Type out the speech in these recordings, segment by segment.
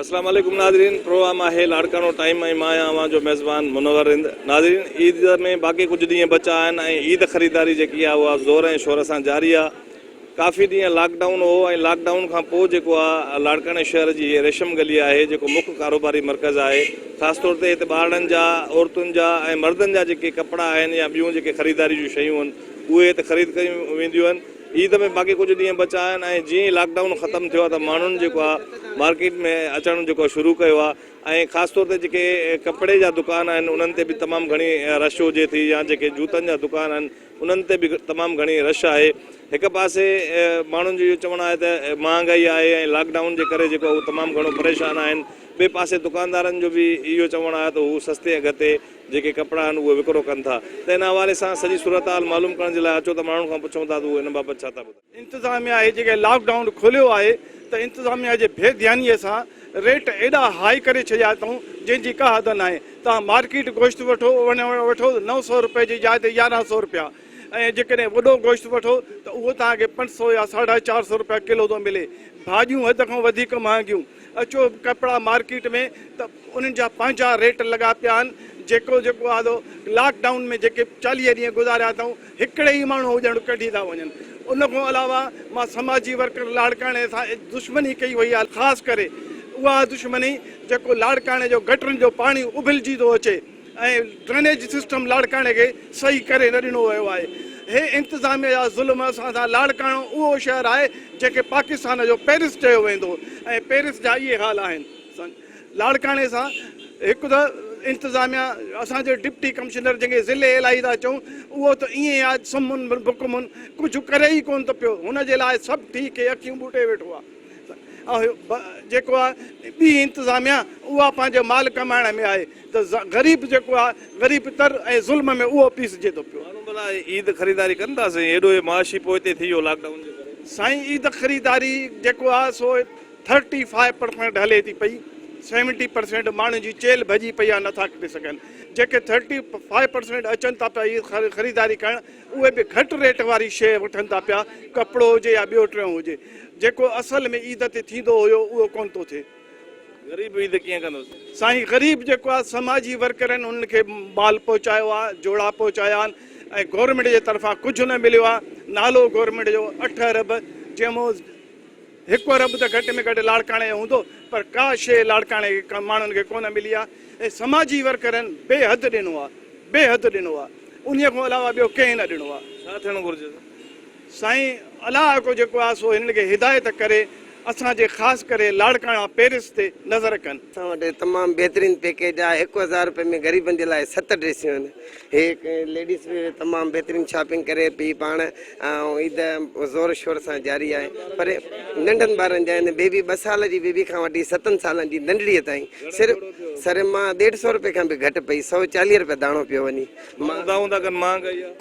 اسلام عليڪم ناظرين پروگرام آهي لاڙڪاڻو ٽائيم ۽ مان آهيان اوهان جو ميزبان منور رند ناظرين عيد ۾ باقي ڪجهه ڏينهن بچا آهن ۽ عيد خريداري جيڪي آهي اها زور ۽ شور سان جاري آهي ڪافي ڏينهن لاڪ ڊائون هو ۽ لاڪ ڊائون کان پوء جيڪو آ لاڙڪاڻي شهر جي هيء ريشم گلي آهي جيڪو مک ڪاروباري مرڪز آهي خاص طور تي هتي ٻارڙن جا عورتن جا ۽ مردن جا جيڪي ڪپڙا آهن يا ٻيون جيڪي خريداري جون شيون هن اهي هتي خريد ڪيون وينديون آهن عيد ۾ باقي ڪجهه ڏينهن بچا آهن ۽ جيئن ئي لاڪ ڊائون ختم ٿيو آ ته ماڻهن جيڪو آ مارڪيٽ ۾ اچڻ جيڪو آ شروع ڪيو آ ۽ خاص طور تي جيڪي ڪپڙي جا دڪان آهن انهن تي به تمام گهڻي رش هجي ٿي يا جيڪي جوتن جا دڪان آهن انهن تي به تمام گهڻي رش آهي. هڪ پاسي ماڻهن جو اهو چوڻ آهي ته مهانگائي آهي ۽ لاڪ ڊائون جي ڪري جيڪو هو تمام گهڻو پريشان آهن. ٻئي پاسي دڪاندارن جو به اهو چوڻ آهي ته هو سستي اگهه تي جيڪي ڪپڙا آهن اهي وڪرو ڪن ٿا ته ان حوالي سان سڄي صورتحال معلوم ڪرڻ جي لاء اچو ته ماڻهن کان پڇون ٿا ته هو ان بابت ڇا ٿا ٻڌائين. انتظاميا اهي جيڪي لاڪ ڊائون کوليو آهي ته انتظاميا جي بي ڌياني سان ريٽ ايڏا هائي ڪري ڇڏيا اٿئون جنهن جي ڪا حد ناهي توهان مارڪيٽ گوشت وٺو وٺو ته نو سئو روپئي جي جاء تي يارهن سئو روپيا ۽ جيڪڏهن وڏو گوشت وٺو ته اهو توهان کي پنج سئو يا ساڍا چار سئو روپيا ڪلو ٿو ملي ڀاڄيون حد کان وڌيڪ مهانگيون اچو ڪپڙا مارڪيٽ ۾ ته انهن جا پنهنجا ريٽ لڳا پيا آهن جيڪو جيڪو آدو لاڪ ڊائون ۾ جيڪي چاليهه ڏينهن گذاريا اٿئون هڪڙي ئي ماڻهو هجڻ ڪڍي ٿا وڃن ان کان علاوه مان سماجي ورڪر لاڙڪاڻي سان دشمني ڪئي وئي آهي خاص ڪري اها دشمني جيڪو لاڙڪاڻي جو گٽرن جو پاڻي ابلجي ٿو اچي ۽ ڊرينيج سسٽم لاڙڪاڻي کي صحيح ڪري نه ڏنو ويو آهي هي انتظاميه جا ظلم اسان سان لاڙڪاڻو اهو شهر آهي جنهن کي پاڪستان جو پيرس چيو ويندو ۽ پيرس جا اهي حال آهن لاڙڪاڻي سان هڪ ته انتظاميا اسان جو ڊپٽي ڪمشنر جنهن کي ضلعي الاهي ٿا چئون اهو ته ائين آهي سمن بڪم ڪجهه ڪري ئي ڪونه ٿو پيو هن جي لاء سڀ ٺيڪ کي اکيون ٻوٽي ويٺو آهي جيڪو آهي ٻي انتظاميا اها پنهنجو مال ڪمائڻ ۾ آهي ته غريب جيڪو آهي غريب تر ۽ ظلم ۾ اهو پيسجي ٿو پيو. ماڻهو ڀلا عيد خريداري ڪن ٿا سائين ايڏو هي معاشي پوئتي ٿي ويو لاڪ ڊائون جي ڪري. سائين عيد خريداري جيڪو آهي سو ٿرٽي فائيو پرسينٽ هلي ٿي پئي سيونٽي پرسينٽ ماڻهن جي چيلهه ڀڄي پئي آهي نٿا کڻي سگهن جيڪي ٿرٽي فائيو پرسينٽ اچن ٿا پيا اهي خريداري ڪرڻ اهي به گهٽ ريٽ واري شيء وٺن ٿا پيا ڪپڙو هجي يا ٻيو ٽيون هجي جيڪو اصل ۾ عيد تي ٿيندو هيو اهو ڪونه ٿو ٿئي غريب عيد ڪيئن ڪندو سائين غريب جيڪو آهي سماجي ورڪر آهن انهن کي مال پهچايو آهي جوڙا پهچايا آهن ۽ گورنمينٽ جي طرفان ڪجهه نه مليو آهي نالو گورنمينٽ جو اٺ ارب جنهن مون هڪ ارب ته گهٽ ۾ گهٽ لاڙڪاڻي جو هوندو پر ڪا شيء لاڙڪاڻي جي ماڻهن کي ڪونه ملي آهي ۽ سماجي ورڪرن بي حد ڏنو آهي بي حد ڏنو آهي انهي کان علاوه ٻيو ڪنهن نه ڏنو آهي. ڇا ٿيڻو گهرجي ته سائين علائقو جيڪو آهي سو هنن کي هدايت ڪري اسان جي خاص ڪري لاڙڪاڻا پيرس تي نظر ڪن. اسان وٽ تمام بهترين پيڪيج آهي هڪ هزار رپئي ۾ غريبن جي لاء ست ڊريسيون آهن. هي ليڊيز به تمام بهترين شاپنگ ڪري پئي پاڻ ۽ عيد زور شور سان جاري آهي پر ننڍن ٻارن جا هن بيبي ٻه سال جي بيبي کان وٺي ستن سالن جي ننڍڙي تائين صرف سر مان ڏيڍ سو روپئي کان به گهٽ پئي سؤ چاليهه روپيا داڻو پيو وڃي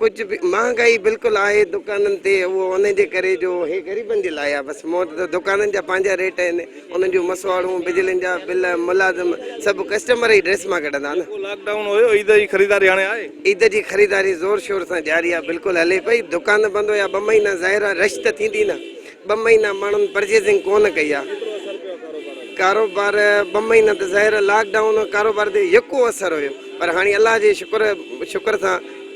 ڪجهه به مهانگائي بلڪل آهي دڪانن تي اهو ان جي ڪري جو هي غريبن جي لاء آهي بس مون وٽ ته دڪانن جا پنهنجا ريٽ آهن انهن جون مسواڙون، بجلين جا بل، ملازم سڀ ڪسٽمر ئي ڊريس مان ڪڍندا نه. جيڪو لاڪ ڊائون هيو عيد جي خريداري هاڻي آهي؟ عيد جي خريداري زور شور سان جاري آهي بلڪل هلي پئي دڪان بند هيا ٻه مهينا ظاهر آهي رش ته ٿيندي نه ٻه مهينا ماڻهن پرچيزنگ ڪونه ڪئي آهي ڪيترو اثر پيو آهي ڪاروبار تي؟ ڪاروبار ٻه مهينا ته ظاهر آهي لاڪ ڊائون ڪاروبار تي يڪو اثر هيو پر هاڻي الله جي شڪر شڪر سان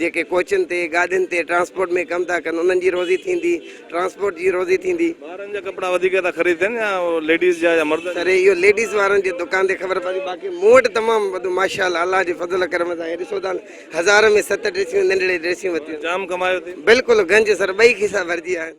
جيڪي ڪوچن تي، گاڏين تي ٽرانسپورٽ ۾ ڪم ٿا ڪن انهن جي روزي ٿيندي؟ ٽرانسپورٽ جي روزي ٿيندي؟ ٻارن جا ڪپڙا وڌيڪ ٿا خريد ٿين يا ليڊيز جا يا مرد جا؟ سر اهو ليڊيز وارن جي دڪان تي خبر پوندي باقي مون وٽ تمام وڌو ماشاءالله الله جي فضل ڪرم سان هي ڏسو ٿا نه هزار ۾ ست ڊريسيون ننڍڙي ڊريسيون ورتيون. جام ڪمايو ٿي. بلڪل گنج سر ٻئي کيسا ڀرجي ويا آهن.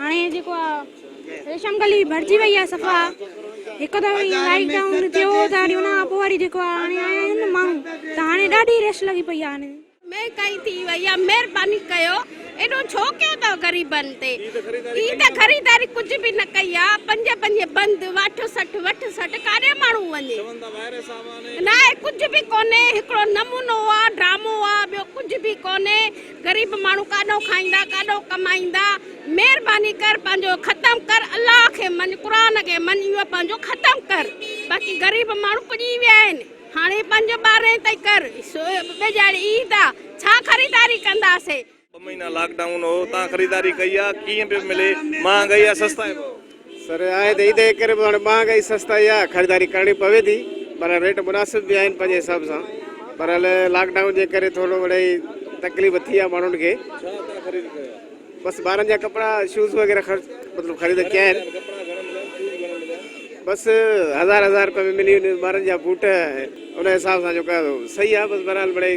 هاڻي جيڪو آ ريشم گلي ڀرجي وئي آ صفا هڪ دفعو ايئن لائيٽ ڊائون ٿيو هو ته هاڻي ان کان پوء وري جيڪو آ هاڻي آيا آهن نه ماڻهو ته هاڻي ڏاڍي رش لڳي پئي آ هاڻي مهنگائي ٿي وئي آ مهرباني ڪيو ايڏو ڇو ڪيو اٿو غريبن تي عيد خريداري ڪجهه به نه ڪئي آ پنج پنج بند واٺ سٺ وٺ سٺ ڪاڏي ماڻهو وڃي ناهي ڪجهه به ڪونهي هڪڙو نمونو آ ڊرامو آ ٻيو ڪجهه به ڪونهي. غريب ماڻهو ڪاڏو کائيندا ڪاڏو ڪمائيندا مھرباني ڪر پنهنجو ختم ڪر الله کي مڃ قرآن کي مڃ اهو پنهنجو ختم ڪر باقي غريب ماڻهو پڄي ويا آهن هاڻي پنج ٻارهين تائين ڪر ٻيجاڙي عيد آ ڇا خريداري ڪنداسين. ٻه مهينا لاڪ ڊائون هو تان خريداري ڪئي آ ڪيئن پيو ملي مهانگائي آ سستائي ڀاء. سر آهي ته عيد جي ڪري به هاڻي مهانگائي ۽ سستائي جي خريداري ڪرڻي پوي ٿي پر ريٽ مناسب به آهن پنهنجي حساب سان پر هل لاڪ ڊائون جي ڪري ٿورو مڙئي تڪليف ٿي آهي ماڻهن کي بس ٻارن جا ڪپڙا شوز وغيره خرچ مطلب خريد ڪيا آهن بس هزار هزار روپيه ۾ ملي وڃن ٻارن جا بوٽ ان حساب سان جو ڪيو صحيح آهي بس بهرحال مڙئي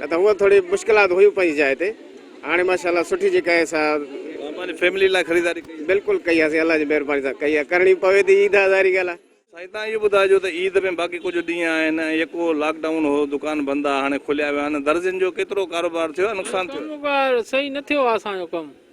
نه ته هونئن ٿوري مشڪلات هيون پنهنجي جاء تي هاڻي ماشاء الله سٺي جيڪا آهي سا. اوهان پنهنجي فيملي لاء خريداري ڪئي. بلڪل ڪئي آسين الله جي مهرباني سان ڪئي آهي ڪرڻي پوي ٿي عيد آهي ظاهري ڳالهه آهي. سائين تان اهو ٻڌائجو ته عيد ۾ باقي ڪجهه ڏينهن آهن ۽ يڪو لاڪ ڊائون هو دڪان بند آ هاڻي کليا ويا آهن درزين جو ڪيترو ڪاروبار ٿيو يا نقصان ٿيو. ڪاروبار صحيح نه ٿيو آ اسان جو ڪم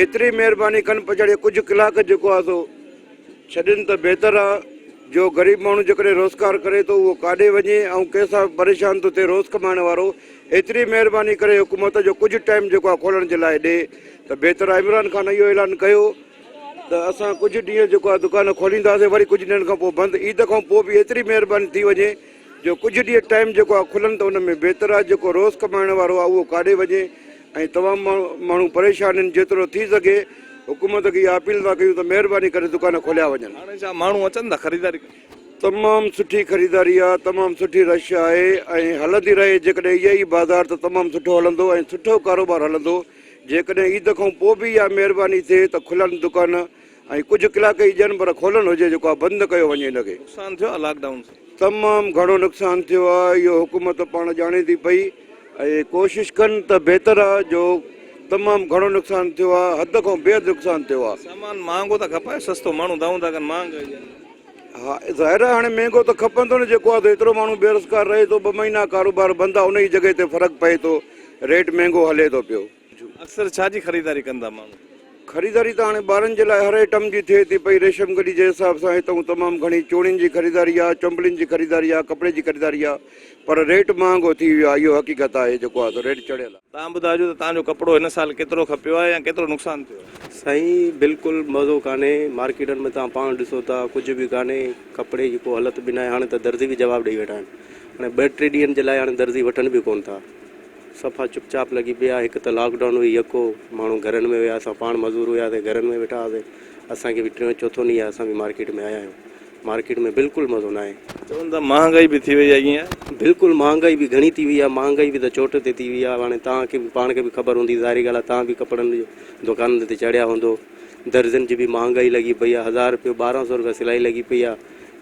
ايتري مهرباني ڪن پڇاڙي ڪجهه ڪلاڪ جيڪو آ سو ڇڏين ته بهتر آ جو غريب ماڻهو جيڪڏهن روزگار ڪري ٿو اهو ڪاڏي وڃي ۽ ڪنهن سان پريشان ٿو ٿئي روز ڪمائڻ وارو ايتري مهرباني ڪري حڪومت جو ڪجهه ٽائيم جيڪو آ کولڻ جي لاء ڏي ته بهتر آ عمران خان اهو اعلان ڪيو ته اسان ڪجهه ڏينهن جيڪو آ دڪان کولينداسين وري ڪجهه ڏينهن کان پوء بند عيد کان پوء به ايتري مهرباني ٿي وڃي جو ڪجهه ڏينهن ٽائيم جيڪو آهي کلن ته ان ۾ بهتر آهي جيڪو روز ڪمائڻ وارو آهي اهو ڪاڏي وڃي ۽ تمام ماڻهو ماڻهو پريشان آهن جيترو ٿي سگهي حڪومت کي اها اپيل ٿا ڪيون ته مهرباني ڪري دڪان کوليا وڃن. هاڻي ڇا ماڻهو اچن ٿا خريداري ڪرڻ؟ تمام سٺي خريداري آهي تمام سٺي رش آهي ۽ هلندي رهي جيڪڏهن اهي ئي بازار ته تمام سٺو هلندو ۽ سٺو ڪاروبار هلندو جيڪڏهن عيد کان پوء به اها مهرباني ٿئي ته کلن دڪان ۽ ڪجهه ڪلاڪ ئي ڏين پر کولڻ هجي جيڪو آ بند ڪيو وڃي ان کي. نقصان ٿيو آ لاڪ ڊائون سان. تمام گهڻو نقصان ٿيو آ اهو حڪومت پاڻ ڄاڻي ٿي پئي ۽ ڪوشش ڪن ته بهتر آ جو تمام گهڻو نقصان ٿيو آ حد کان بي حد نقصان ٿيو آ. سامان مهانگو ته کپائي سستو ماڻهو دانهون ٿا ڪن مهانگ ڪئي ڏين. ها ظاهر آ هاڻي مهنگو ته کپندو نه جيڪو آ ته ايترو ماڻهو بيروزگار رهي ٿو ٻه مهينا ڪاروبار بند آ انهي جي جڳهي تي فرق پئي ٿو ريٽ مهنگو هلي ٿو پيو. اڪثر ڇا جي خريداري ڪن ٿا ماڻهو؟ خريداري ته هاڻي ٻارن جي لاء هر ائٽم جي ٿئي ٿي پئي. ريشم گڏي جي حساب سان هتئون تمام گهڻي چوڙين جي خريداري آهي، چنبلين جي خريداري آهي، ڪپڙي جي خريداري آهي پر ريٽ مهانگو ٿي ويو آهي اهو حقيقت آهي جيڪو آهي سو ريٽ چڙهيل آهي. تان ٻڌاجو ته تان جو ڪپڙو هن سال ڪيترو کپيو آهي يا ڪيترو نقصان ٿيو آهي. سائين بلڪل مزو ڪانهي مارڪيٽن ۾ توهان پاڻ ڏسو ٿا ڪجهه به ڪانهي ڪپڙي جي ڪو هلت به ناهي هاڻي ته درزي به جواب ڏئي ويٺا آهن هاڻي ٻه ٽي ڏينهن جي لاء هاڻي درزي وٺن به ڪون ٿا. صفا چپ چاپ لڳي پيا هڪ ته لاڪ ڊائون هئي يڪو ماڻهو گهرن ۾ هيا اسان پاڻ مزور هياسين گهرن ۾ ويٺا هئاسين اسان کي به ٽيون چوٿون ڏينهن آهي اسان به مارڪيٽ ۾ آيا آهيون مارڪيٽ ۾ بلڪل مزو ناهي. چون ٿا مهانگائي به ٿي وئي آهي ائين آهي؟ بلڪل مهانگائي به گهڻي ٿي وئي آهي مهانگائي به ته چوٽ تي ٿي وئي آهي هاڻي توهان کي به پاڻ کي به خبر هوندي ظاهري ڳالهه آهي توهان به ڪپڙن جي دوڪانن تي چڙهيا هوندو درزين جي به مهانگائي لڳي پئي آهي هزار رپيو ٻارهن سو رپيا سلائي لڳي پئي آهي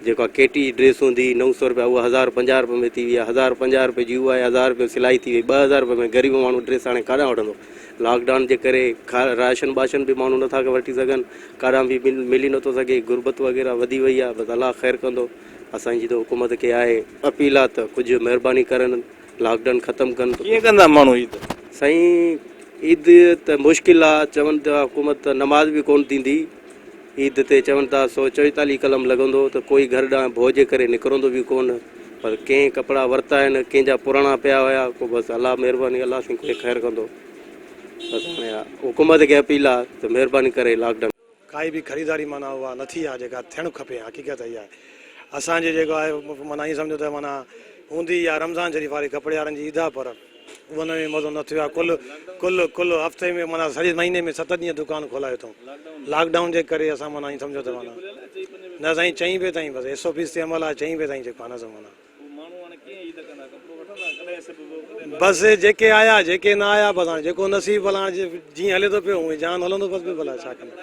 جيڪا ڪي ٽي جي ڊريس هوندي هئي نو سؤ روپيا اها هزار ۽ پنجاهه روپين ۾ ٿي وئي آهي هزار ۽ پنجاهه روپين جي اها هزار روپين سلائي ٿي وئي ٻه هزار روپين ۾ غريب ماڻهو ڊريس هاڻي ڪاڏانهن وٺندو لاڪ ڊائون جي ڪري کا راشن ٻاشن به ماڻهو نٿا وٺي سگهن ڪاڏانهن به مل ملي نٿو سگهي غربت وغيره وڌي وئي آهي بس الله خير ڪندو اسان جي ته حڪومت کي آهي اپيل آهي ته ڪجهه مهرباني ڪرن لاڪ ڊائون ختم ڪن ته ڪيئن ڪندا ماڻهو عيد؟ سائين عيد ته مشڪل آ چون ته حڪومت ته نماز به ڪون ٿيندي. عيد تي چون ٿا سو چويتاليهه قلم لڳندو ته ڪوئي گهر ڏانهن ڀوء جي ڪري نڪرندو به ڪو نه پر ڪئين ڪپڙا ورتا آهن ڪئين جا پراڻا پيا هيا ڪو بس الله مهرباني الله سائين ڪوئي خير ڪندو بس هاڻي اها حڪومت کي اپيل آهي ته مهرباني ڪري لاڪ ڊائون ڪائي به خريداري معنيٰ اها نه ٿي آهي جيڪا ٿيڻ کپي حقيقت اها آهي اسان جي جيڪو آهي معنيٰ ائين سمجهو ته معنيٰ هوندي اها رمضان شريف واري ڪپڙي وارن جي عيد آهي پر. ان ۾ مزو نه ٿيو آهي ڪل ڪل ڪل هفتي ۾ معنيٰ سڄي مهيني ۾ ست ڏينهن دڪان کولائي اٿئون لاڪ ڊائون جي ڪري اسان معنيٰ ائين سمجهو ته معنيٰ نه سائين چئين بجي تائين بس ايس او پيز تي عمل آهي چئين بجي تائين جيڪو آهي نه سو معنيٰ بس جيڪي آيا جيڪي نه آيا بس هاڻي جيڪو نصيب بس هاڻي جيئن هلي ٿو پيو هونئن جهان هلندو بس به بلا ڇا ڪندا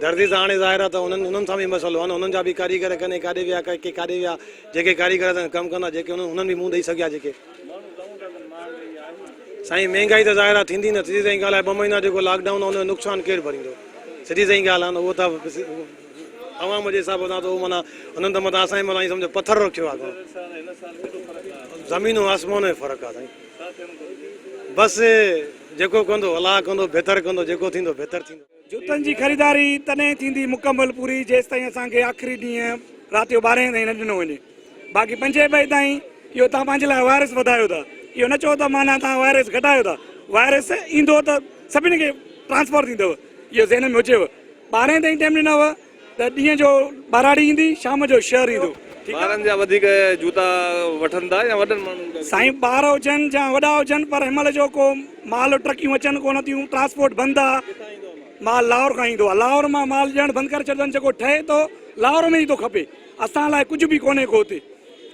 دردي ته هاڻي ظاهر آهي ته انهن انهن سان بي مسئلو آهن انهن جا به ڪاريگر ڪني ڪاڏي ويا ڪي ڪاڏي ويا جيڪي ڪاريگر ڪم ڪندا جيڪي انهن انهن به منهن ڏئي سگهيا جيڪي سائين مهنگائي ته ظاهر آ ٿيندي نه سڌي سائين ڳالهه آهي ٻه مهينا جيڪو لاڪ ڊائون آ ان جو نقصان ڪير ڀريندو سڌي سائين ڳالهه آ نه اهو ته عوام جي حساب سان ته اهو معنيٰ انهن ته متان اسان جي متان ائين سمجهه پٿر رکيو آ گهڻو زمين ۽ آسمان جو فرق آ سائين بس جيڪو ڪندو الله ڪندو بهتر ڪندو جيڪو ٿيندو بهتر ٿيندو. جوتن جي خريداري تڏهن ئي ٿيندي مڪمل پوري جيستائين اسان کي آخري ڏينهن رات جو ٻارهين تائين نه ڏنو وڃي باقي پنجين بجي تائين اهو توهان پنهنجي لاء وائرس وڌايو ٿا اهو نه چئو ته معنيٰ توهان وائرس گهٽايو ٿا وائرس ايندو ته سڀني کي ٽرانسفر ٿيندو اهو ذهن ۾ هجيو ٻارهين تائين ٽائيم ڏنو ته ڏينهن جو ٻهراڙي ايندي شام جو شهر ايندو ٺيڪ آ. ٻارن جا وڌيڪ جوتا وٺن ٿا يا وڏن ماڻهن جا. سائين ٻار هجن جا وڏا هجن پر هن مهل جو ڪو مال ٽرڪيون اچن ڪونه ٿيون ٽرانسپورٽ بند آ. ڪٿان ايندو آ مال؟ مال لاهور کان ايندو آ لاهور مان مال ڏيڻ بند ڪري ڇڏيو اٿن جيڪو ٺهي ٿو لاهور ۾ ئي ٿو کپي اسان لاء ڪجهه به ڪونهي ڪو هتي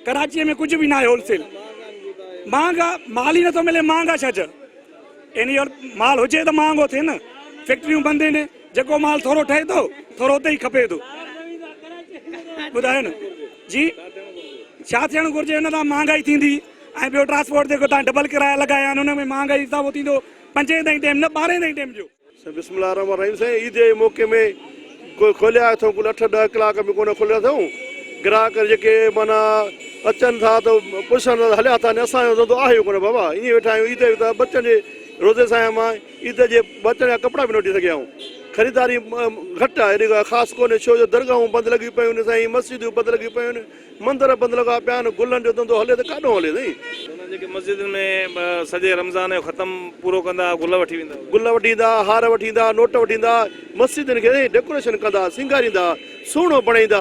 ڪراچيء ۾ ڪجهه به ناهي هول سيل مهانگا مال ئي نٿو ملي مهانگا ڇا جا ايني هول مال هجي ته مهانگو ٿئي نه فيڪٽريون بند ايني. جيڪو مال ٿورو ٺهي ٿو ٿورو اتي ئي کپي ٿو ٻڌايو نه جي ڇا ٿيڻ گهرجي ان تان مهانگائي ٿيندي ۽ ٻيو ٽرانسپورٽ جيڪو تان ڊبل ڪرايا لڳايا آهن ان ۾ مهانگائي اضافو ٿيندو پنجين تائين ٽيم نه ٻارهين تائين ٽيم جو بسم الله الرحمن الرحيم سائين عيد جي موقعي ۾ ڪو کوليا اٿو ڪل اٺ ڏهه ڪلاڪ ۾ ڪونه کوليا اٿو گراهڪ جيڪي مانا اچن ٿا ته پڇن ٿا هليا ٿا اسان جو ڌنڌو آهي ڪونه بابا ائين ويٺا آهيون عيد جو ته ٻچن جي روزي سان آهيان مان عيد جي بچڻ جا ڪپڙا به نه وٺي سگهيا آهيون. خريداري گهٽ آهي. اهڙي ڳالهه خاص ڪونهي ڇو جو درگاهون بند لڳيون پيون آهن سائين، مسجدون بند لڳيون پيون آهن، مندر بند لڳا پيا آهن، گلن جو ڌنڌو هلي ته ڪاڏنهون هلي سائين. چوندا آهن جيڪي مسجدن ۾ سڄي رمضان جو ختم پورو ڪندا گل وٺي ويندا اهي. گل وٺي ايندا، هار وٺي ايندا، نوٽ وٺي ايندا، مسجدن کي سائين ڊيڪوريشن ڪندا، سينگاريندا، سهڻو بڻائيندا.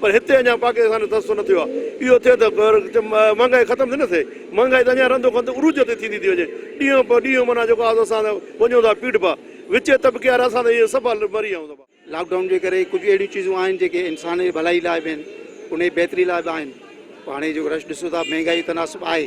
پر هتي اڃا پاڪستان جو تحسن نه ٿيو آهي. اهو ٿئي ته مهانگائي ختم ٿي نه ٿئي. مهانگائي ته اڃا رندو کنڌ عروج تي ٿيندي ٿي وڃي. ڏينهون پ ڏينهون معنيٰ جيڪو آهي سو اسان ته وڃون ٿا پيڙهه پا. وچين طبقي وارا اسان ته ائين سڀا مري آيون ٿا. لاڪ ڊائون جي ڪري ڪجهه اهڙيون چيزون آهن جيڪي انسان جي ڀلائي لاء به آهن. ان جي بهتري لاء به آهن. پر هاڻي جيڪو رش ڏسو ٿا مهانگائي تناسب آهي.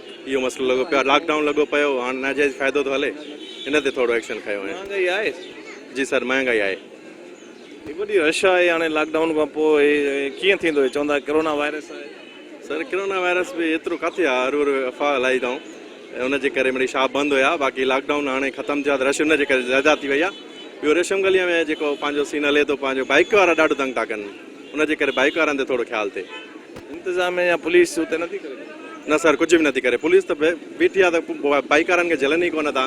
اهو مسئلو لڳو پيو آهي لاڪ ڊائون لڳو پيو هاڻ ناجائز فائدو ٿو هلي ان تي ٿورو ايڪشن کنيو وڃي. مهانگائي آهي؟ جي سر مهانگائي آهي. هي وڏي رش آهي هاڻي لاڪ ڊائون کان پوء هي ڪيئن ٿيندو هي چوندا ڪرونا وائرس آهي. سر ڪرونا وائرس به ايترو ڪاٿي آهي هر هر افواهه هلائي اٿائون ان جي ڪري مڙئي شاپ بند هيا باقي لاڪ ڊائون هاڻي ختم ٿيو آهي ته رش ان جي ڪري زياده ٿي وئي آهي ٻيو ريشم گليء ۾ جيڪو پنهنجو سين هلي ٿو پنهنجو بائيڪ وارا ڏاڍو تنگ ٿا ڪن. ان جي ڪري بائيڪ وارن تي ٿورو خيال ٿئي. انتظاميه يا پوليس اتي نه ٿي ڪري. نه سر ڪجهه به نه ٿي ڪري پوليس ته بيٺي آهي ته بائيڪ وارن کي جهلن ئي ڪونه ٿا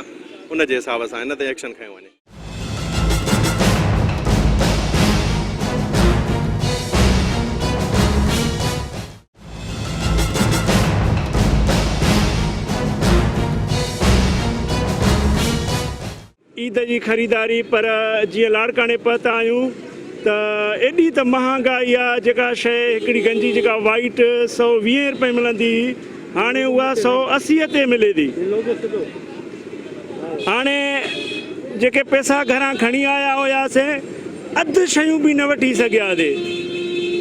ان جي حساب سان هن تي ايڪشن کنيو وڃي. عيد جي خريداري پر جيئن لاڙڪاڻي پهتا آهيون ته ايڏي ته مهانگائي آ جيڪا شيء هڪڙي گنجي جيڪا وائيٽ سؤ ويهين رپئي ملندي هئي هاڻي اها سؤ اسيء تي ملي ٿي هاڻي جيڪي پئسا گهران کڻي آيا هياسين اڌ شيون به نه وٺي سگهياسي.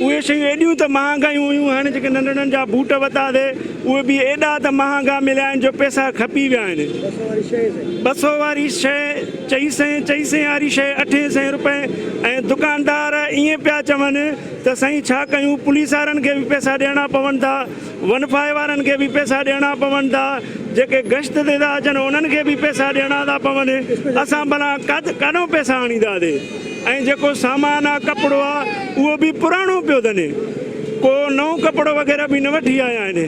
اهي شيون ايڏيون ته مهانگايون هيون هن جيڪي ننڍڙن جا بوٽ ورتاسي اهي به ايڏا ته مهانگا مليا آهن جو پئسا کپي ويا آهن. ٻه سئو واري شيء چئي سئين، چئي سئين واري شيء اٺين سئين روپين ۽ دڪاندار ائين پيا چون ته سائين ڇا ڪيون پوليس وارن کي به پئسا ڏيڻا پون ٿا. ونفاهي وارن کي به پئسا ڏيڻا پون ٿا، جيڪي گشت تي ٿا اچن انهن کي به پئسا ڏيڻا ٿا پون، اسان ڀلا ڪاڏون پئسا آڻينداسين ۽ جيڪو سامان آ ڪپڙو آ اهو به پراڻو پيو ڌني ڪو نئون ڪپڙو وغيره به نه وٺي آيا آهن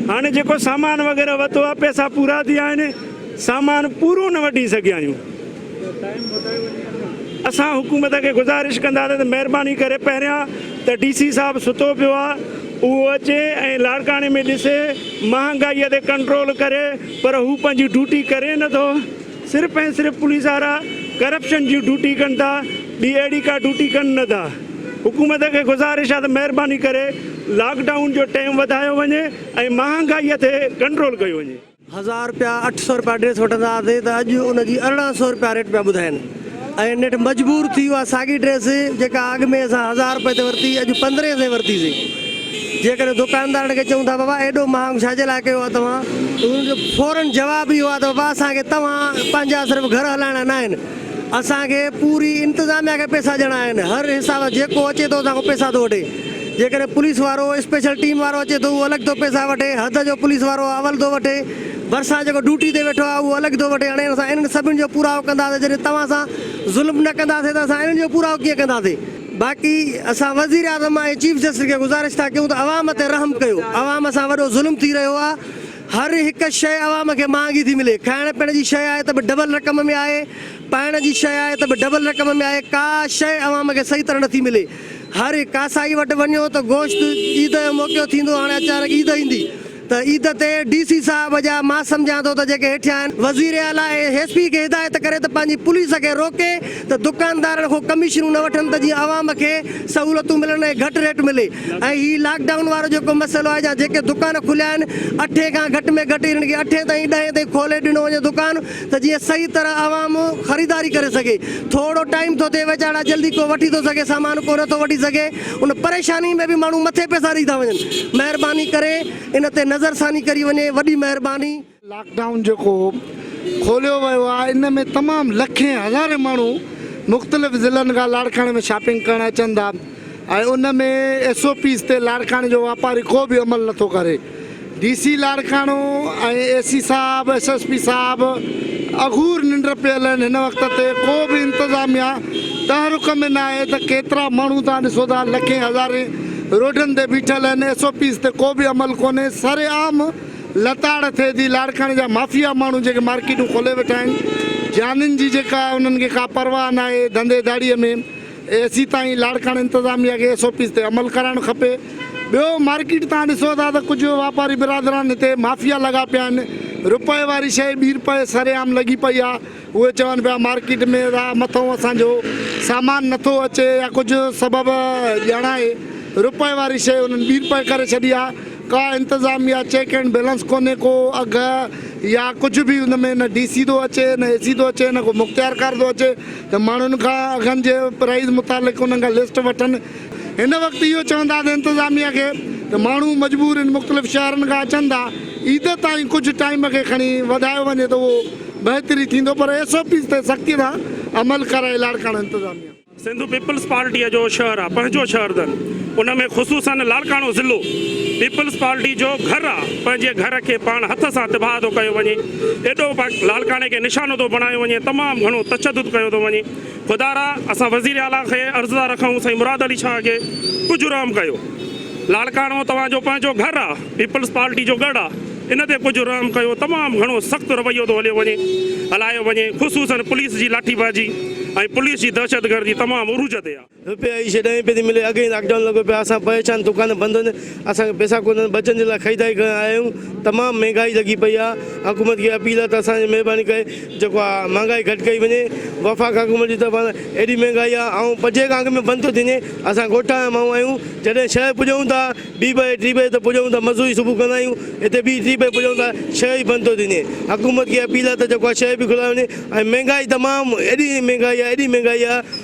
هاڻي جيڪو سامان وغيره وتو آ پئسا پورا ٿي آهن سامان پورو نه وٺي سگهيا آهيون. اسان حڪومت کي گذارش ڪنداسين ته مهرباني ڪري پهريان ته ڊي سي صاحب ستو پيو آهي اهو اچي ۽ لاڙڪاڻي ۾ ڏسي مهانگائي تي ڪنٽرول ڪري پر هو پنهنجي ڊيوٽي ڪري نه ٿو صرف ۽ صرف پوليس وارا ڪرپشن جي ڊيوٽي ڪن ٿا ٻي اهڙي ڪا ڊيوٽي ڪن نه ٿا حڪومت کي گذارش آهي ته مهرباني ڪري لاڪ ڊائون جو ٽيم وڌايو وڃي ۽ مهانگائي تي ڪنٽرول ڪيو وڃي. هزار رپيا اٺ سؤ رپيا ڊريس وٺندا هئاسين ته اڄ ان جي ارڙهن سؤ رپيا ريٽ پيا ٻڌائين ۽ نيٺ مجبور ٿي اها ساڳي ڊريس جيڪا اڳ ۾ اسان هزار رپئي تي ورتي اڄ پندرهين سين ورتيسين جيڪڏهن دوڪاندارن کي چئون ٿا بابا ايڏو مهانگ ڇا جي لاء ڪيو آهي توهان ته انهن جو فورن جواب اهو آهي ته بابا اسان کي توهان پنهنجا صرف گهر هلائڻا نه آهن اسان کي پوري انتظاميا کي پئسا ڏيڻا آهن هر حساب جيڪو اچي ٿو اسان کان پئسا ٿو وٺي. جيڪڏهن پوليس وارو اسپيشل ٽيم وارو اچي ٿو اهو الڳ ٿو پئسا وٺي، حد جو پوليس وارو اول ٿو وٺي، ڀرسان جيڪو ڊيوٽي تي ويٺو آهي اهو الڳ ٿو وٺي، هاڻي اسان انهن سڀني جو پورائو ڪنداسين، جڏهن توهان سان ظلم نه ڪنداسين ته اسان انهن جو پورائو ڪيئن ڪنداسين؟ باقي اسان وزيراعظم ۽ چيف جسٽس کي گذارش ٿا ڪيون ته عوام تي رحم ڪيو، عوام سان وڏو ظلم ٿي رهيو آهي، هر هڪ شيء عوام کي مهانگي ٿي ملي، کائڻ پيئڻ جي شيء آهي ته به ڊبل رقم ۾ آهي، پائڻ جي شيء آهي ته به ڊبل رقم ۾ آهي، ڪا شيء عوام کي صحيح طرح نٿي ملي. هر هڪ ڪاسائي وٽ وڃو ته گوشت عيد جو موقعو ٿيندو هاڻي اچانڪ عيد ايندي ته عيد تي ڊي سي صاحب جا مان سمجهان ٿو ته جيڪي هيٺيان آهن وزير اعليٰ ايس پي کي هدايت ڪري ته پنهنجي پوليس کي روڪي ته دڪاندارن کان ڪميشنون نه وٺن ته جيئن عوام کي سهولتون ملن ۽ گهٽ ريٽ ملي ۽ هي لاڪ ڊائون وارو جيڪو مسئلو آهي جا جيڪي دڪان کليا آهن اٺين کان گهٽ ۾ گهٽ انهن کي اٺين تائين ڏهين تائين کولي ڏنو وڃي دڪان ته جيئن صحيح طرح عوام خريداري ڪري سگهي ٿورو ٽائيم ٿو ٿئي ويڄاڻا جلدي ڪو وٺي ٿو سگهي سامان ڪو نٿو وٺي سگهي ان پريشاني ۾ به ماڻهو مٿي پئسا ڏئي ٿا وڃن مهرباني ڪري ان تي نظر ثاني ڪري وڃي وڏي مهرباني. لاڪ ڊائون جيڪو کوليو ويو آهي ان ۾ تمام لکين هزارين ماڻهو مختلف ضلعن کان لاڙڪاڻي ۾ شاپنگ ڪرڻ اچن ٿا ۽ ان ۾ ايس او پيز تي لاڙڪاڻي جو واپاري ڪو به عمل نه ٿو ڪري D C Larkana ۽ A C صاحب ايس ايس پي صاحب اگهور ننڊ پيل آهن هن وقت تي ڪو به انتظاميا تحرڪ ۾ نه آهي ته ڪيترا ماڻهو توهان ڏسو ٿا لکين هزارين روڊن تي بيٺل آهن ايس او پيز تي ڪو به عمل ڪونهي سر عام لتاڙ ٿئي ٿي لاڙڪاڻي جا مافيا ماڻهو جيڪي مارڪيٽون کولي ويٺا آهن جانين جي جيڪا انهن کي ڪا پرواهه نه آهي ڌنڌي ڌاڙي ۾ اي سي تائين لاڙڪاڻي انتظاميا کي ايس او پيز تي عمل ڪرائڻ کپي ٻيو مارڪيٽ تان ڏسو ٿا ته ڪجهه واپاري برادران هتي مافيا لڳا پيا آهن رپئي واري شئي ٻي رپئي سري عام لڳي پئي آهي اهي چون پيا مارڪيٽ ۾ ٿا مٿئون اسان جو سامان نٿو اچي يا ڪجهه سبب ڄاڻائي رپئي واري شئي انهن ٻي رپئي ڪري ڇڏي آهي ڪا انتظاميا چيڪ اينڊ بيلنس ڪونهي ڪو اگهه يا ڪجهه به ان ۾ نه ڊي سي ٿو اچي نه اي سي ٿو اچي نه ڪو مختيارڪار ٿو اچي ته ماڻهن کان اگهن جي پرائيز متعلق انهن کان لسٽ وٺن. هن وقت اهو چونداسين انتظاميه کي ته ماڻهو مجبور ان مختلف شهرن کان اچن ٿا عيد تائين ڪجهه ٽائيم کي کڻي وڌايو وڃي ته اهو بهتري ٿيندو پر ايس او پيز تي سختي سان عمل ڪرائي لاڙڪاڻو انتظاميه. سنڌ پيپلز پارٽيء جو شهر آ پنهنجو شهر ٿن ان ۾ خصوصاً لاڙڪاڻو ضلعو پيپلز پارٽي جو گهر آ پنهنجي گهر کي پاڻ هٿ سان تباهه ٿو ڪيو وڃي. ايڏو وقت لاڙڪاڻي کي نشانو ٿو بڻايو وڃي تمام گهڻو تشدد ڪيو ٿو وڃي خدارا اسان وزير اعليٰ کي عرض ٿا رکون سائين مراد علي شاهه کي ڪجهه رحم ڪيو لاڙڪاڻو توهان جو پنهنجو گهر آ پيپلز پارٽي جو ڳڙ آ ان تي ڪجهه رحم ڪيو تمام گهڻو سخت رويو ٿو هليو وڃي هلايو وڃي خصوصن پوليس جي لاٺي بازي ۽ پوليس جي دهشت گردي تمام عروج تي آ. روپيه اي شي ڏهين پئي ٿي ملي اڳهين لاڪ ڊائون لڳو پيو آهي اسان پريشان دڪان بند آهن اسان کي پئسا ڪونهن ٻچن جي لاء خريداري ڪرڻ آيا آهيون تمام مهنگائي لڳي پئي آهي حڪومت کي اپيل آهي ته اسان جي مهرباني ڪري جيڪو آ مهنگائي گهٽ ڪئي وڃي وفاق حڪومت جي طرفان ايڏي مهنگائي آهي آئون پنجين کان اڳ ۾ بند ٿو ٿي وڃي اسان ڳوٺ جا ماڻهو آهيون جڏهن شهر پڄون ٿا ٻي بجي ٽي بجي ته پڄون ٿا مزوري صبح ڪندا آهيون هتي ٻي ٽي بجي پڄون ٿا شهر ئي بند ٿو ٿي وڃي حڪومت کي اپيل آهي ته جيڪو آ شهر به کلايو وڃي ۽ مهنگائي تمام ايڏي مهنگائي آهي ايڏي مهنگائي آهي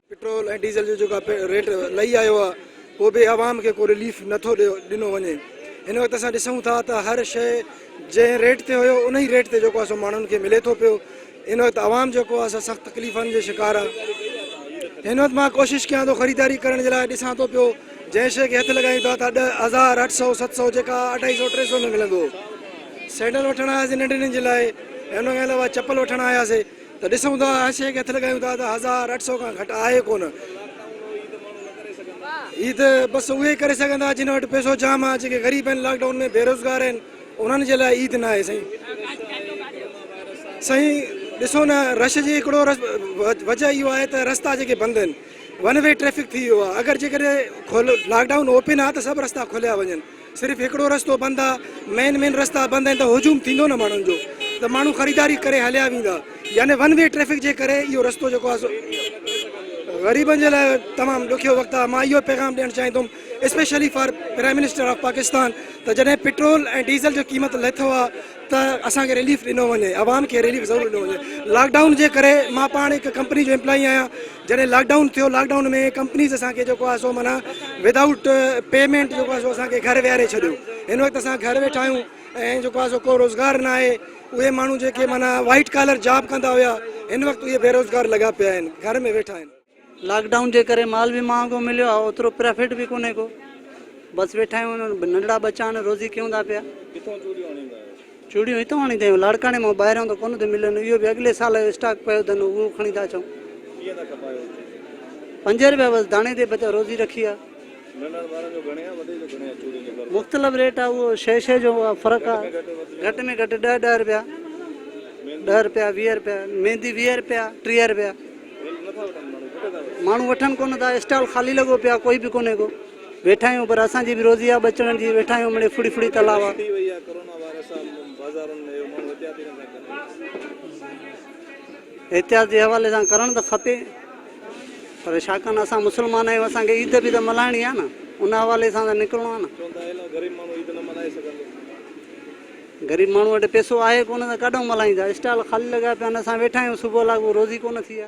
پيٽرول ۽ ڊيزل جو جيڪا ريٽ لهي آيو آهي اهو به عوام کي ڪو رليف نٿو ڏنو وڃي هن وقت اسان ڏسون ٿا ته هر شيء جنهن ريٽ تي هيو ان ئي ريٽ تي جيڪو اسان ماڻهن کي ملي ٿو پيو ان وقت عوام جيڪو آهي سا سخت تڪليفن جي شڪار آهي هن وقت مان ڪوشش ڪيان ٿو خريداري ڪرڻ جي لاء ڏسان ٿو پيو جنهن شيء کي هٿ لڳايون ٿا ته ڏهه هزار اٺ سؤ ست سؤ جيڪا اڍائي سؤ ٽي سؤ ۾ ملندو سينڊل وٺڻ آياسي ننڍي ننجي لاء هن کان علاوه چپل وٺڻ آياسي ته ڏسون ٿا هر شيء کي هٿ لڳايون ٿا ته هزار اٺ سئو کان گهٽ آهي ڪونه. هي ته بس اهي ئي ڪري سگهن ٿا جن وٽ پئسو جام آهي جيڪي غريب آهن لاڪ ڊائون ۾ بيروزگار آهن انهن جي لاء عيد نه آهي سائين. سائين ڏسو نه رش جي هڪڙو وجه اهو آهي ته رستا جيڪي بند آهن ون وي ٽريفڪ ٿي ويو آهي اگر جيڪڏهن لاڪ ڊائون اوپن آهي ته سڀ رستا کوليا وڃن. صرف هڪڙو رستو بند آ مين مين رستا بند آهن ته هجوم ٿيندو نه ماڻهن جو ته ماڻهو خريداري ڪري هليا ويندا يعني ون وي ٽريفڪ جي ڪري اهو رستو جيڪو آ سو غريبن جي لاء تمام ڏکيو وقت آ مان اهو پيغام ڏيڻ چاهيندم especially for prime minister of Pakistan ته جڏهن پيٽرول ۽ ڊيزل جو قيمت لٿو آ ته اسان کي رليف ڏنو وڃي عوام کي رليف ضرور ڏنو وڃي لاڪ ڊائون جي ڪري مان پاڻ هڪ ڪمپني جو امپلائي آهيان جڏهن لاڪ ڊائون ٿيو لاڪ ڊائون ۾ ڪمپنيز اسان کي جيڪو آهي سو معنيٰ ودائوٽ پيمينٽ جيڪو آهي سو اسان کي گهر ويهاري ڇڏيو هن وقت اسان گهر ويٺا آهيون ۽ جيڪو آهي سو ڪو روزگار نه آهي اهي ماڻهو جيڪي معنيٰ وائيٽ ڪالر جاب ڪندا هيا هن وقت اهي بيروزگار لڳا پيا آهن گهر ۾ ويٺا آهن. لاڪ ڊائون جي ڪري مال به مهانگو مليو آهي اوترو پرافٽ به ڪونهي ڪو بس ويٺا آهيون ننڍڙا ٻچا آهن روزي ڪيون ٿا پيا. چوڙيون هتون هڻي ٿيون لاڙڪاڻي مان ٻاهريان ته ڪونه ٿيون ملن اهو به اڳلي سال جو اسٽاڪ پيو اٿن اهو کڻي ٿا اچون. ڪيئن ٿا کپايو هتي؟ پنج روپيا بس داڻي تي بچا روزي رکي آ. ننڍڙن وارن جو گهڻي آ وڏي جو گهڻي آ چوڙين جو اگهه؟ مختلف ريٽ آ اهو شي شي جو فرق آ گهٽ ۾ گهٽ ڏهه ڏهه روپيا ڏهه روپيا ويهه روپيا ميندي ويهه روپيا ٽيهه روپيا ماڻهو وٺن ڪونه ٿا اسٽال خالي لڳو پيو آ ڪوئي به ڪونه ڪو. ويٺا آهيون پر اسان جي به روزي آ ٻچڙن جي ويٺا آهيون مڙي ڦڙي ڦڙي تلا وا. ٿي وئي آ ڪورونا وائرس آ بازارن ۾ اهو ماڻهو احتياط ئي نٿا ڪرن. احتياط جي حوالي سان ڪرڻ ته کپي پر ڇاڪاڻ اسان مسلمان آهيون اسان کي عيد به ته ملهائڻي آ نه ان حوالي سان ته نڪرڻو آ نه. چون ٿا اهلا غريب ماڻهو عيد نه ملهائي سگهندو. غريب ماڻهو وٽ پئسو آهي ڪونه ته ڪاڏهون ملهائيندا اسٽال خالي لڳا پيا آهن اسان ويٺا آهيون صبح لاڳو روزي ڪونه ٿي آ.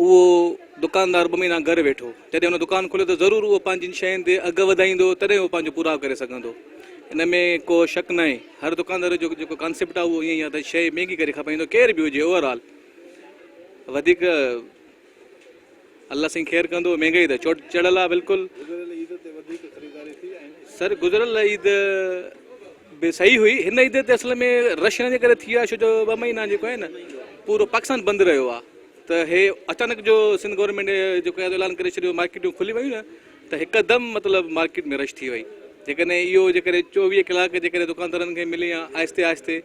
اهو دڪاندار ٻه مهينا گهر ويٺو، جڏهن هن دڪان کوليو ته ضرور اهو پنهنجين شين تي اگهه وڌائيندو تڏهن اهو پنهنجو پورائو ڪري سگهندو. ان ۾ ڪو شڪ ناهي هر دڪاندار جو جيڪو ڪانسيپٽ آهي اهو ائين ئي آهي ته شيء مهنگي ڪري کپائيندو ڪير به هجي اوور آل وڌيڪ الله سائين خير ڪندو مهنگائي ته چوٽ چڙهيل آهي بلڪل. گذريل عيد تي وڌيڪ خريداري ٿي ۽ سر گذريل عيد به صحيح هئي هن عيد تي اصل ۾ رش هن جي ڪري ٿي آهي ڇو جو ٻه مهينا جيڪو آهي نه پورو پاڪستان بند رهيو آهي ته هي اچانڪ جو سنڌ گورنمينٽ جو قيادو اعلان ڪري ڇڏيو مارڪيٽون کلي ويون نه ته هڪدم مطلب مارڪيٽ ۾ رش ٿي وئي جيڪڏهن اهو جيڪڏهن چوويهه ڪلاڪ جيڪڏهن دڪاندارن کي ملي ها آهستي آهستي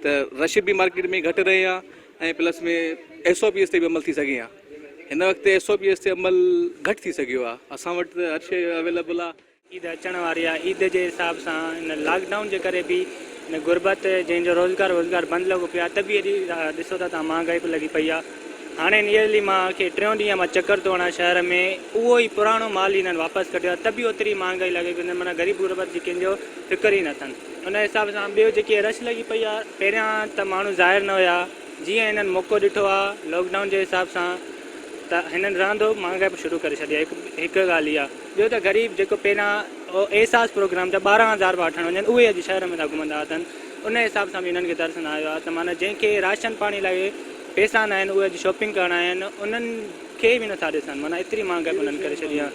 ته رش به مارڪيٽ ۾ گهٽ رهي ها ۽ پلس ۾ ايس او پي ايس تي به عمل ٿي سگهي ها هن وقت ايس او پي ايس تي عمل گهٽ ٿي سگهيو ها اسان وٽ هر شيء اويليبل ها عيد اچڻ واري آهي عيد جي حساب سان هن لاڪ ڊائون جي ڪري به هن غربت جنهن جو روزگار ووزگار بند لڳو پيو آهي ته به ايڏي ڏسو ٿا توهان مهانگائي به لڳي پئي آهي هاڻي نيئرلي مان کي ٽيون ڏينهن مان چڪر ٿو هڻان شهر ۾ اهو ئي پراڻو مال هنن واپس ڪڍيو آهي ته به اوتري مهانگائي لڳي پئي معنيٰ غريب غربت جي ڪنهن جو فڪر ئي نه اٿن ان حساب سان ٻيو جيڪي رش لڳي پئي آهي پهريان ته ماڻهو ظاهر نه هيا جيئن هنن موقعو ڏٺو آهي لاڪ ڊائون جي حساب سان ته هنن رهندو مهانگائي به شروع ڪري ڇڏي آهي هڪ ڳالهه اها ٻيو ته غريب جيڪو پهريان احساس پروگرام جا ٻارهن هزار پيا وٺڻ وڃن اهي اڄ شهر ۾ ٿا گهمندا اٿن ان حساب سان به انهن کي ترس نه آيو آهي ته معنيٰ جنهن کي راشن پاڻي لاء پيسا ناهن اهي اڄ شاپنگ ڪرڻ آيا آهن انهن کي به نٿا ڏسن معنيٰ ايتري مهانگائي انهن ڪري ڇڏي آهي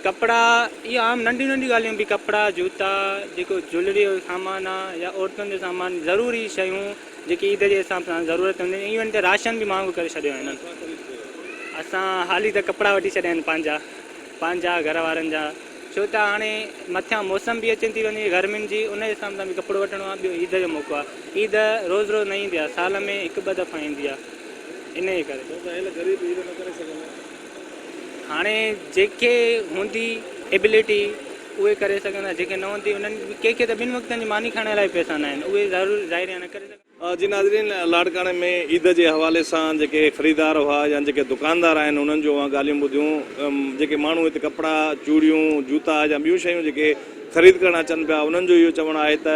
ڪپڙا اهي عام ننڍيون ننڍيون ڳالهيون به ڪپڙا جوتا جيڪو جولري جو سامان آهي يا عورتن جو سامان ضروري شيون جيڪي عيد جي حساب سان ضرورت هونديون آهن ايون ته راشن به مهانگو ڪري ڇڏيو آهن اسان حالي ته ڪپڙا وٺي ڇڏيا آهن پنهنجا پنهنجا گهر وارن جا ڇو ته هاڻي مٿيان موسم به اچي ٿي وڃي گرمين جي ان حساب سان به ڪپڙو وٺڻو آهي ٻيو عيد جو موقعو آهي عيد روز روز نه ايندي آهي سال ۾ هڪ ٻه دفعا ايندي آهي انهي ڪري ڇو ته اهل غريب عيد نه ڪري سگهندا هاڻي جيڪي هوندي ابيليٽي اهي ڪري سگهندا جيڪي نه هوندي انهن ڪي ڪي ته ٻن وقتن جي ماني کائڻ لاء به پئسا نه آهن اهي ظاهري نه ڪري سگهندا. جي ناظرين لاڙڪاڻي ۾ عيد جي حوالي سان جيڪي خريدار هئا يا جيڪي دڪاندار آهن انهن جون اوهان ڳالهيون ٻڌيون جيڪي ماڻهو هت ڪپڙا چوڙيون جوتا يا ٻيون شيون جيڪي خريد ڪرڻ اچن پيا انهن جو اهو چوڻ آهي ته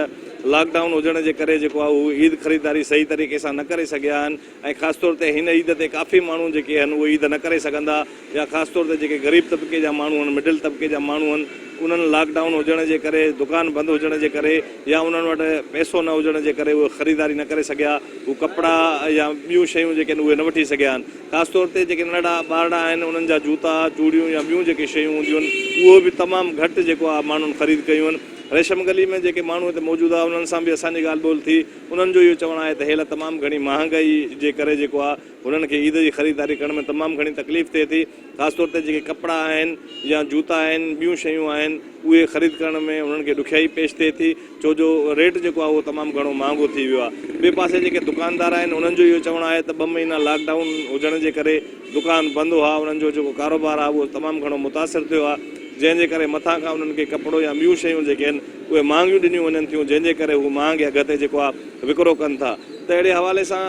لاڪ ڊائون هجڻ جي ڪري جيڪو آهي هو عيد خريداري صحيح طريقي سان نه ڪري سگهيا آهن ۽ خاص طور تي هن عيد تي ڪافي ماڻهو جيڪي آهن اهي عيد نه ڪري سگهندا يا خاص طور تي جيڪي غريب طبقي جا ماڻهو آهن، مڊل طبقي جا ماڻهو آهن، انهن لاڪ ڊائون هجڻ جي ڪري، دڪان بند هجڻ جي ڪري يا انهن وٽ پئسو نه هجڻ جي ڪري اهي خريداري نه ڪري سگهيا، هو ڪپڙا يا ٻيون شيون جيڪي آهن اهي نه وٺي سگهيا آهن. خاص طور تي جيڪي ننڍڙا ٻارڙا آهن انهن جا جوتا، چوڙيون يا ٻيون جيڪي شيون هونديون آهن اهي به تمام گهٽ جيڪو آهي ماڻهن خريد ڪيون آهن. ريشم گلي ۾ جيڪي ماڻهو هتي موجود آهن انهن سان به اسان جي ڳالهه ٻولهه ٿي، انهن جو اهو چوڻ آهي ته هيل تمام گهڻي مهانگائي جي ڪري جيڪو آهي، هنن کي عيد جي خريداري ڪرڻ ۾ تمام گهڻي تڪليف ٿئي ٿي، خاص طور تي جيڪي ڪپڙا آهن يا جوتا آهن، ٻيون شيون آهن، اهي خريد ڪرڻ ۾ هنن کي ڏکيائي پيش ٿئي ٿي، ڇو جو ريٽ جيڪو آهي اهو تمام گهڻو مهانگو ٿي ويو آهي. ٻئي پاسي جيڪي دڪاندار آهن انهن جو اهو چوڻ آهي ته ٻه مهينا لاڪ ڊائون هجڻ جي ڪري دڪان بند هئا، انهن جو جيڪو ڪاروبار آهي اهو تمام گهڻو متاثر ٿيو آهي، جنهن جي ڪري مٿان کان انهن کي ڪپڙو يا ٻيون شيون جيڪي آهن اهي مهانگيون ڏنيون وڃن ٿيون، جنهن جي ڪري هو مهانگي اگهه تي جيڪو آهي. وڪرو ڪن ٿا ته اهڙي حوالي سان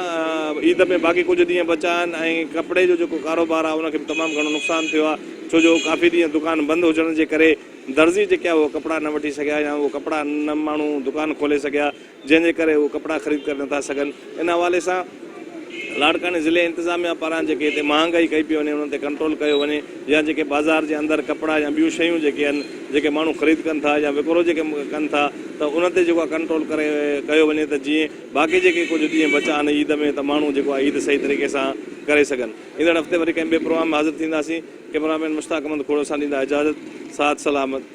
عيد ۾ باقي ڪجهه ڏينهن بچا آهن ۽ ڪپڙي جو جيڪو ڪاروبار آهي ان کي به تمام گهڻو نقصان ٿيو آهي ڇو جو ڪافي ڏينهن دڪان بند هجڻ جي ڪري درزي جيڪي آهي اهي ڪپڙا نه وٺي سگهيا يا اهي ڪپڙا نه ماڻهو دڪان کولي سگهيا جنهن جي ڪري اهي ڪپڙا خريد ڪري نٿا سگهن ان حوالي سان لاڙڪاڻي ضلعي انتظاميا پاران جيڪي هتي مهانگائي ڪئي پئي وڃي انهن تي ڪنٽرول ڪيو وڃي يا جيڪي بازار جي اندر ڪپڙا يا ٻيون شيون جيڪي آهن جيڪي ماڻهو خريد ڪن ٿا يا وڪرو جيڪي ڪن ٿا ته انهن تي جيڪو آهي ڪنٽرول ڪري ڪيو وڃي ته جيئن باقي جيڪي ڪجهه ڏينهن بچا آهن عيد ۾ ته ماڻهو جيڪو آهي عيد صحيح طريقي سان ڪري سگهن ايندڙ هفتي وري ڪنهن ٻئي پروگرام ۾ حاضر ٿينداسين ڪيمرا مين مشتاق احمد کوڙو سان ڏيندا اجازت ساٿ سلامت.